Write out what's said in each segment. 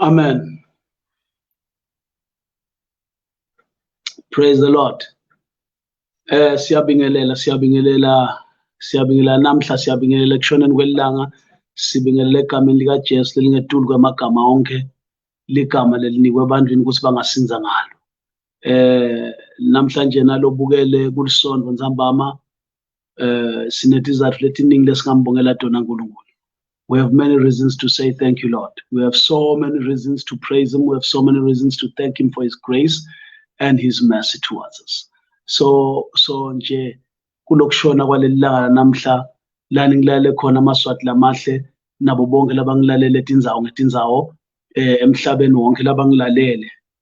Amen. Praise the Lord. Eh siyabingelela siyabingelela siyabingelela namhla siyabingelela kushoneni kwelanga sibingelela egameni lika Jesu lelingetulu kwamagama onke ligama lelinikwe ebantwini ukuthi bangasinza ngalo. Eh namhlanje nalobukele kulisonto ntambama uh, sinetizathu letiningi lesingambongela tona nkulunkulu We have many reasons to say thank you, Lord. We have so many reasons to praise Him. We have so many reasons to thank Him for His grace and His mercy towards us. So, so nje kulokushona kwaleli langa namhla lani ngilalele khona amaswati lamahle nabo bonke labangilalele tindzawo ngetindzawo eh, emhlabeni wonke labangilalele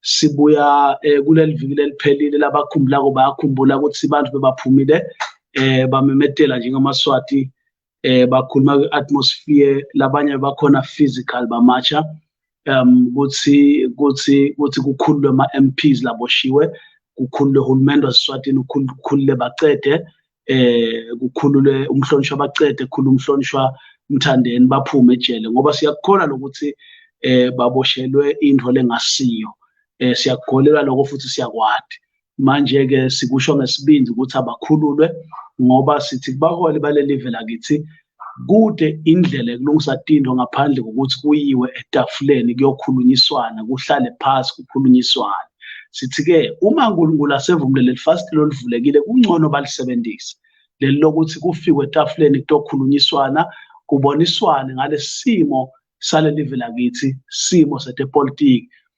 sibuya eh, kuleli viki leliphelile labakhumbulako bayakhumbula ukuthi abantu bebaphumile eh bamemetela njengamaswati eh bakhuluma kwi-atmosphere labanye bakhona physical bamatsha um kuthi kuthi kuthi kukhululwe ama-MPs laboshiwe kukhululwe uhulumende waseswatini kukhulule bacede eh kukhulule umhlonishwa bacede khulu umhlonishwa umthandeni baphume ejele ngoba siyakukhola lokuthi eh baboshelwe into lengasiyo eh siyakukholelwa lokho futhi siyakwadi manje ke sikusho ngesibindi ukuthi abakhululwe ngoba sithi kubaholi balelive lakithi kude indlela yokulungisa tindho ngaphandle kokuthi kuyiwe etafuleni kuyokhulunyiswana kuhlale phasi kukhulunyiswane sithi-ke uma unkulunkulu asevumile leli fasitile olivulekile kungcono balisebenzise leli lokuthi kufikwe etafuleni kutokhulunyiswana kuboniswane ngalesimo salelive lakithi simo setepolitiki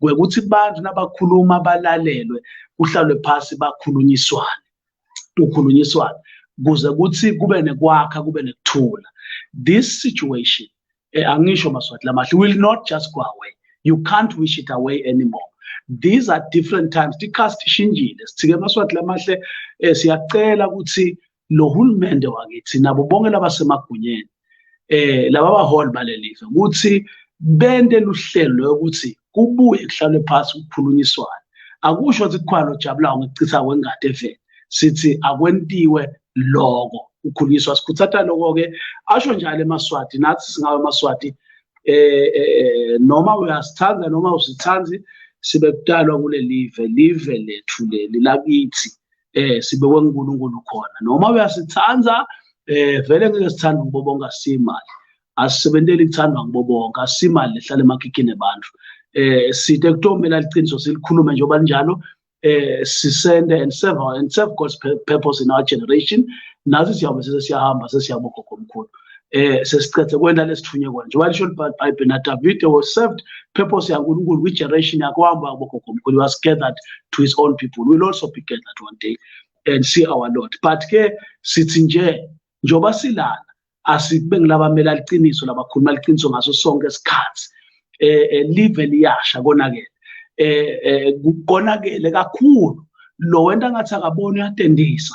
kwekuthi abantu nabakhuluma balalelwe kuhlalwe phasi bakhulunyiswane kukhulunyiswane kuze kuthi kube nekwakha kube nekuthula this situation eh, angisho maswati lamahle will not just go away you can't wish it away anymore these are different times tikhasi tishintshile sithike amaswati lamahle eh, siyacela ukuthi lo hulumende wakithi nabo bonke labasemagunyeni eh laba baholi balelizwe ukuthi bende luhlelo lokuthi kubuye kuhlalwe phansi kukhulunyiswane akusho ukuthi kukhwalo jabulayo ngicitha kwengadi eveni sithi akwentiwe loko ukhulunyiswa sikhuthata lokho-ke asho njalo emaswati nathi singawe emaswati eh, eh, eh noma uyasithanda noma usithandi sibe kudalwa kule live live lethu leli lakithi eh sibekwe uNkulunkulu khona noma uyasithanda eh vele ngeke sithande kubo bonke asimali asisebenteli kuthandwa kubo bonke asimali lehlala emakhikhini abantu eh sithe kutomela liqiniso silikhulume njengoba linjalo eh sisende and serve and serve God's purpose in our generation nathi siyabe sesiyahamba sesiyabogogo omkhulu eh sesiqedze kwenda lesithunywe kona njengoba lisho libhayibheli na davide was served purpose yankulunkulu kwi-generation yakhe wahamba wabogogo mkhulu was gathered to his own people will also be gathered one day and see our lord but ke sithi nje njengoba silana asibe ngilabamele aliqiniso labakhuluma aliqiniso ngaso sonke isikhathi eh, eh live liyasha konakele eh, eh konakele kakhulu lo wento angathi akaboni uyatendisa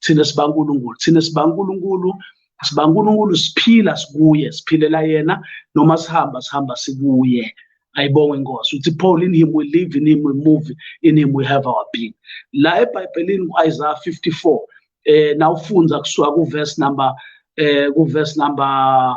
thina sibankulunkulu thina sibankulunkulu sibankulunkulu siphila sikuye siphilela yena noma sihamba sihamba sikuye ayibonge inkosi uthi paul in him we live in him we move in him we have our being la ebhayibhelini ku-isaya 54 eh nawufunza kusuka kuverse number eh kuverse number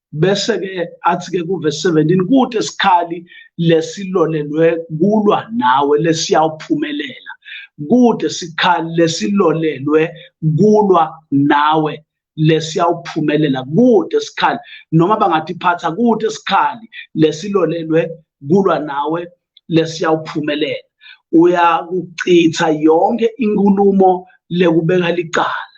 bese ke athi ke kuve 17 kude sikhali lesilolelwe kulwa nawe lesiyawuphumelela kude sikhali lesilolelwe kulwa nawe lesiyawuphumelela kude sikhali noma bangathi phatha kude sikhali lesilolelwe kulwa nawe lesiyawuphumelela uyakuchitha yonke inkulumo lekubeka licala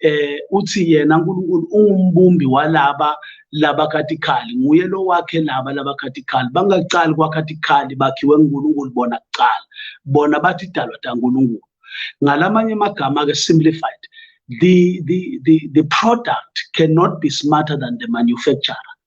eh uthi yena uNkulunkulu ungumbumbi walaba laba katikali nguye lo wakhe laba laba katikali bangaqali kwakatikali bakhiwe uNkulunkulu bona kuqala bona bathi dalwa taNkulunkulu ngalamanye amagama ke simplified the the the the product cannot be smarter than the manufacturer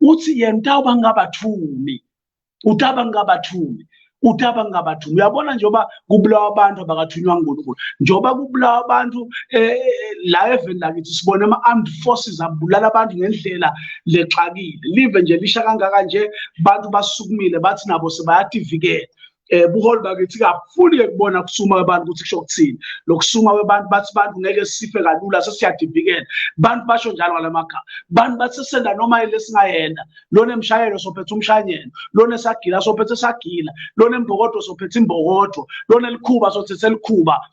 uthi yena utawuba ngingabathumi utaba ngingabathumi utaba ngingabathumi uyabona njengoba kubulawa abantu abakathunywa ngunkulunkulu njengoba kubulawa abantu eh, eh, la eveni lakithi sibone ama-armed forces abulala abantu ngendlela lexakile live nje lisha kangaka nje abantu basukumile bathi nabo sebeyativikela eh buholi bakithi kakhulu ke kubona kusuma kwabantu ukuthi kusho ukuthini lokusuma kwabantu bathi bantu ngeke sife kalula sesiyadivikela bantu basho njalo ngalamagama bantu bathi senda noma ile singayenda lona emshayelo sophethe umshanyelo lona esagila sophethe sagila lona embokodo sophethe imbokodo lona elikhuba sothethe elikhuba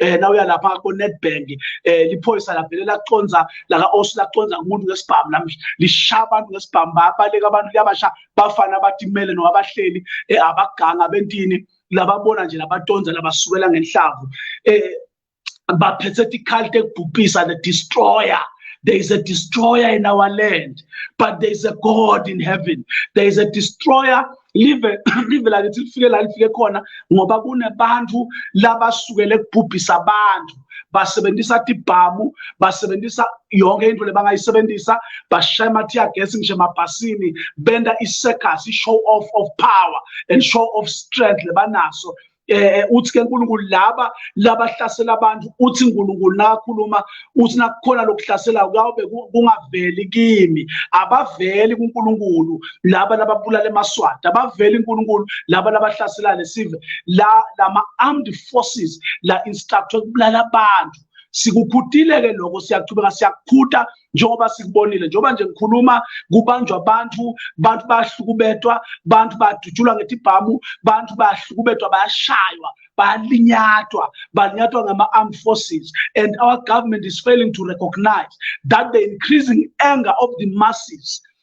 eh na uya lapha ko Nedbank eh liphoyisa lavele laconza la ka Osu laconza kumuntu ngesibhamu namhla lishaya abantu ngesibhamu babaleka abantu liyabasha bafana abatimele no abahleli eh abaganga bentini lababona nje labatonza labasukela ngenhlavu eh baphethe tikhalu tekubhubhisa the destroyer There is a destroyer in our land, but there is a God in heaven. There is a destroyer live live lakithi lifike la lifike khona ngoba kunebantu labasukele kubhubhisa abantu basebenzisa tibhamu basebenzisa yonke into lebangayisebenzisa bashaya ama-tear gas ngisho emabhasini benda i-circus i-show off of power and show of strength lebanaso eh uthi ke uNkulunkulu laba labahlasela abantu uthi uNkulunkulu nakhuluma uthi nakukhona lokuhlasela kawube kungaveli kimi abaveli kuNkulunkulu laba lababulala emaswati abaveli uNkulunkulu laba labahlasela lesive la lama armed forces la instructor kubulala abantu sikukhutile ke lokho siyaqhubeka siyakhuta njengoba sikubonile njengoba nje ngikhuluma kubanjwa abantu abantu bayahlukubetwa abantu badutshulwa ngetibhamu abantu bayahlukubetwa bayashaywa balinyatwa balinyatwa ngama-armed forces and our government is failing to recognize that the increasing anger of the masses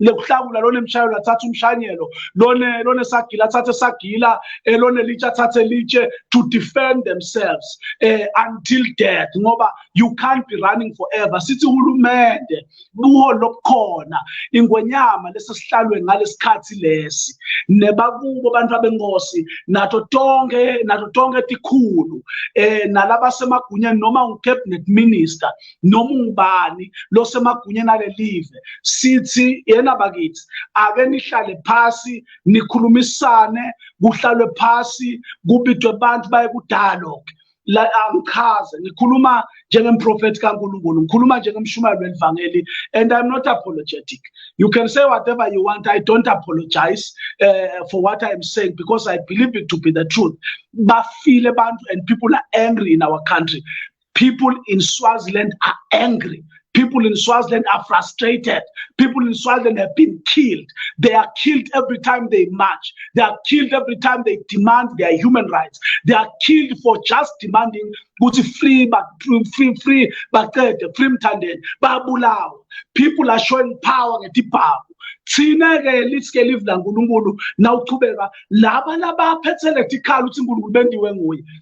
lekuhlakula lona emshayelo athathe umshanyelo lona lona sagila athathe sagila eh, lona litshe athathe litshe to defend themselves eh, until death ngoba you can't be running forever sithi hulumende buho lobukhona ingwenyama lesesihlalwe ngalesikhathi lesi nebakubo abantu abenkosi nato tonke nato tonke tikhulu eh nalabasemagunyeni noma ucabinet minister noma ungubani losemagunyeni alelive sithi yena bakithi ake nihlale phasi nikhulumisane kuhlalwe phasi kubidwe abantu baye ku-dialogue la angichaze ngikhuluma njengemprofethi kaNkulunkulu ngikhuluma njengemshumayeli welivangeli and i'm not apologetic you can say whatever you want i don't apologize uh, for what i'm saying because i believe it to be the truth bafile abantu and people are angry in our country People in Swaziland are angry. People in Swaziland are frustrated. People in Swaziland have been killed. They are killed every time they march. They are killed every time they demand their human rights. They are killed for just demanding ukuthi free but free free baqede free mthandeni babulawa. People are showing power ngetibhamu. thina ke lisike live laNkulunkulu nawuchubeka laba labaphethele tikhala ukuthi uNkulunkulu bendiwe nguye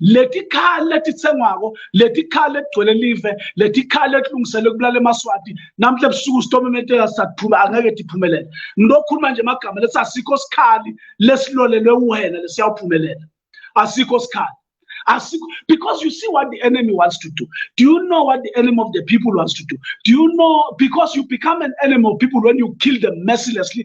letikhali letitsengwako letikhali letigcwele live letikhali letilungiselwe kubulala emaswati namhle ebusuku sitomemeteka sisatiphume angeke tiphumelela ngilokhuluma nje emagama lesi asikho sikhali lesilolelwe wena lesiyawuphumelela asikho sikhali asikho because you see what the enemy wants to do do you know what the enemy of the people wants to do do you know because you become an enemy of people when you kill them mercilessly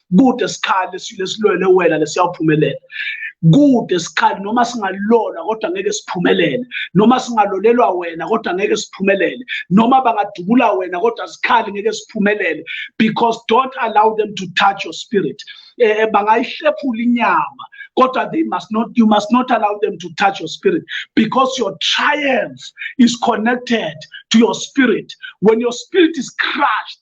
kude sikhali lesilwele wena lesiyawuphumelela kude sikhali noma singalona kodwa ngeke siphumelele noma singalolelwa wena kodwa ngeke siphumelele noma bangadubula wena kodwa sikhali ngeke siphumelele because don't allow them to touch your spirit eh, eh bangayihlephula inyama kodwa they must not you must not allow them to touch your spirit because your triumph is connected to your spirit when your spirit is crushed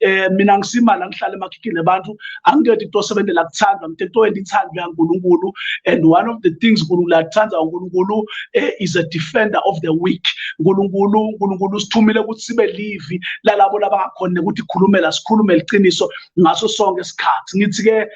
eh mina ngisimala ngihlale emakhikhini abantu angikhethi into osebenzela kuthandwa mthetho wendithandwa yaNkulunkulu and one of the things uNkulunkulu athanda uNkulunkulu eh, is a defender of the weak uNkulunkulu uNkulunkulu usithumile ukuthi sibe livi lalabo labangakhona ukuthi khulumela sikhulume liqiniso ngaso sonke isikhathi ngithi ke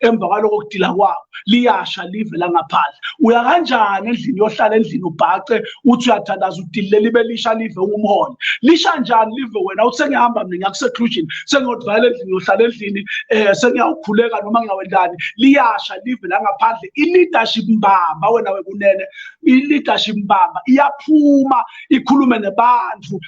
emva kwaloko kudila kwabo liyasha live langaphandle uya kanjani endlini yohlala endlini ubhace uthi uyathandaza udilile libe lisha live ungumholi lisha njani live wena uthi sengihamba mina ngiyakusekhlusion sengiyokuvalela endlini yohlala endlini um sengiyawukhuleka noma ngiyawendani liyasha live langaphandle i-leadership mbamba wena wekunene i-leadership mbamba iyaphuma ikhulume nebandlu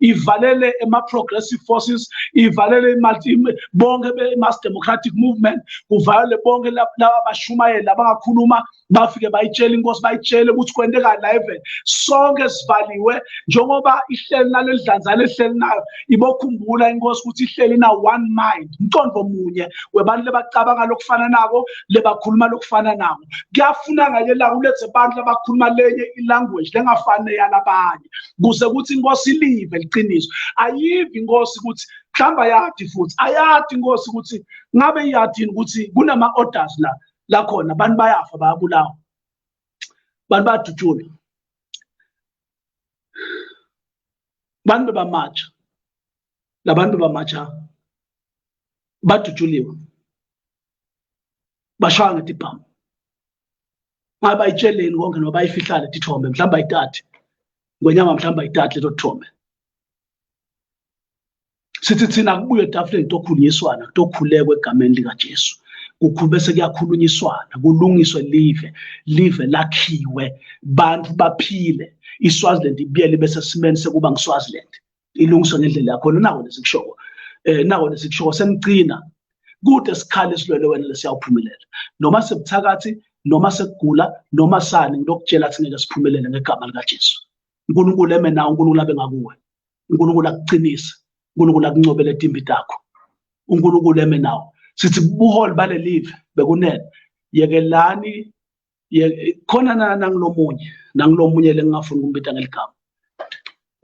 ivalele ema-progressive forces ivalele bonke be-mass democratic movement kuvalele bonke laba bashumayeli abangakhuluma bafike bayitshele inkosi bayitshele ukuthi kwenteka la even sonke sivaliwe njengoba ihleli nale dlanzana ehleli nayo ibokhumbula inkosi ukuthi ihleli na one mind umqondo munye webantu lebacabanga lokufana nako lebakhuluma lokufana nako kuyafuna ngake la ulethe abantu labakhuluma lenye ilanguage lengafani neyalabanye kuze kuthi inkosi live liqiniso ayivi inkosi ukuthi mhlawumbe ayadi futhi ayadi inkosi ukuthi ngabe iyadini ukuthi kunama-orders la lakhona abantu bayafa bayabulawa abantu bayadutshulwa abantu bebamatsha labantu bebamatsha badutshuliwe bashaya ngetibhamu ngaba itsheleni konke noba ifihlale tithombe mhlawumbe ayithathe ngwenyama mhlawumbe ayithathe leto thombe sithi thina kubuye etafuleni kutokhulunyiswana kutokhulekwa egameni likajesu kukhulube sekuyakhulunyiswana kulungiswe live live lakhiwe bantu baphile iswaziland ibuyele ibe sesimeni sekuba ngiswaziland ilungiswe ngendlela yakho nako nesikushoko eh nako nesikushoko semgcina kude sikhale silwele wena lesiyawuphumelela noma sebuthakathi noma sekugula noma sani ngilokutshela ukuthi ngeke siphumelele ngegama likaJesu uNkulunkulu eme nawe uNkulunkulu abe ngakuwe uNkulunkulu akuqinise uNkulunkulu akuncobele etimbi takho uNkulunkulu eme nawe sithi buholi balelive bekunene yekelani khona nangilomunye nangilomunye lengingafuni ukumbita ngeligama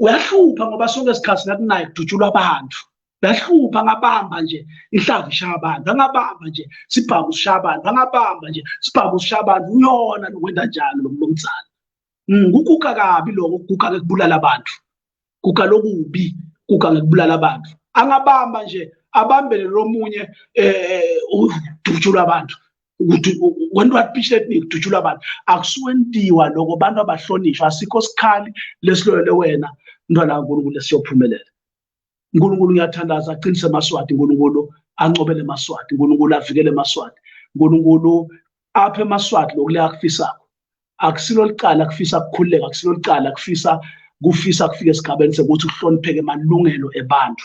uyahlupha ngoba sonke isikhathi nakunaye kudutshulwa abantu ngahlupha ngabamba nje inhlavu ishaya abantu angabamba nje sibhamu sishaya abantu angabamba nje sibhamu sishaya abantu uyona lokwenza njalo lo mnumzane mm, kuguga kabi lokho kuguga-ke kubulala abantu kukalokubi kugange kubulala abantu angabamba nje abambele lomunye eh udutshulwa abantu ukuthi when what pitch that me udutshulwa abantu akusuwendiwa lokho abantu abahlonishwa asikho sikhali lesilwele wena ntwana kaNkulunkulu esiyophumelela uNkulunkulu ngiyathandaza aqinise amaswati uNkulunkulu ancobele amaswati uNkulunkulu avikele amaswati uNkulunkulu apha emaswati lokule akufisako akusilo licala kufisa kukhululeka akusilo licala kufisa kufisa kufika esigabeni sekuthi kuhlonipheke amalungelo ebantu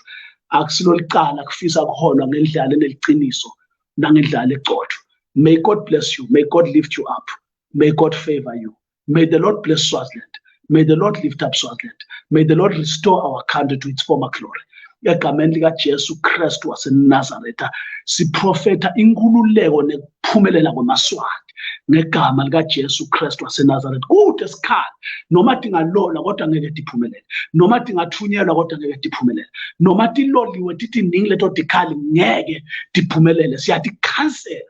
akusilo licala kufisa kuholwa ngendlala eneliciniso nangendlala egcotshwa may god bless you may god lift you up may god favor you May the Lord bless Swaziland. May the Lord lift up Swaziland. May the Lord restore our country to its former glory. egameni likaJesu Kristu waseNazaretha siprofetha inkululeko nekuphumelela kwamaswati ngegama likaJesu Kristu waseNazaretha kude sikhala noma dingalona kodwa ngeke diphumelele noma dingathunyelwa kodwa ngeke diphumelele noma tiloliwe tithi ningi leto dikhali ngeke diphumelele siyadikhansela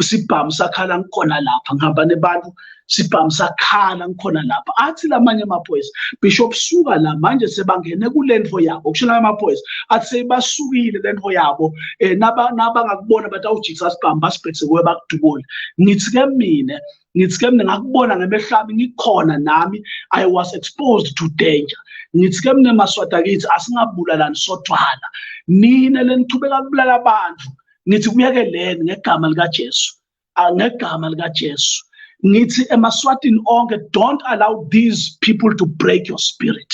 sibhamu sakhala ngikhona lapha ngihamba nebantu sibhamu sakhala ngikhona lapha athi lamanye amaphoyisa bishop suka la manje sebangene kulento yabo kusho la amaphoyisa athi sebasukile lento yabo eh naba nabangakubona batawujikisa sibhamu basibhekise kuwe bakudubule ngithi ke mina ngithi ke mina ngakubona ngemehlami ngikhona nami i was exposed to danger ngithi ke mina maswadakithi asingabulalani sodwana nina lenichubeka kubulala abantu ngithi kuyekeleni ngegama likaJesu ngegama likaJesu ngithi emaswatini onke don't allow these people to break your spirit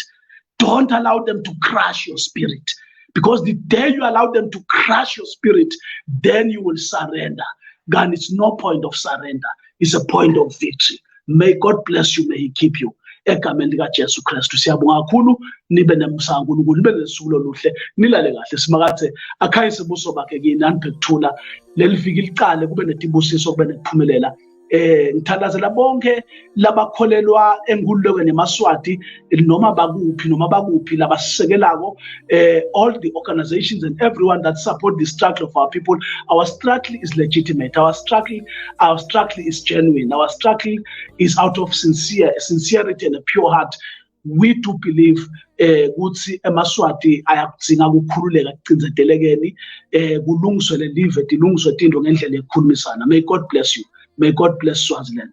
don't allow them to crush your spirit because the day you allow them to crush your spirit then you will surrender God, it's no point of surrender, it's a point of victory. may god bless you may he keep you egameni likajesu kristu siyabonga kakhulu nibe nemusa kankulunkulu nibe nesuku loluhle nilale kahle simakathe akhayise ubuso bakhe kini anibhekuthula leli viki liqale kube netibusiso kube nekuphumelela eh ngithandazela bonke labakholelwa enkululekweni yemaswati noma bakuphi noma bakuphi labasisekelako uh, all the organizations and everyone that support the struggle of our people our struggle is legitimate our struggle our struggle is genuine our struggle is out of sincere sincerity and a pure heart we do believe eh kuthi emaswati ayakudzinga ukukhululeka kucinzetelekeni eh kulungiswe lelive dilungiswe tinto ngendlela yokukhulumisana may god bless you may god bless swaziland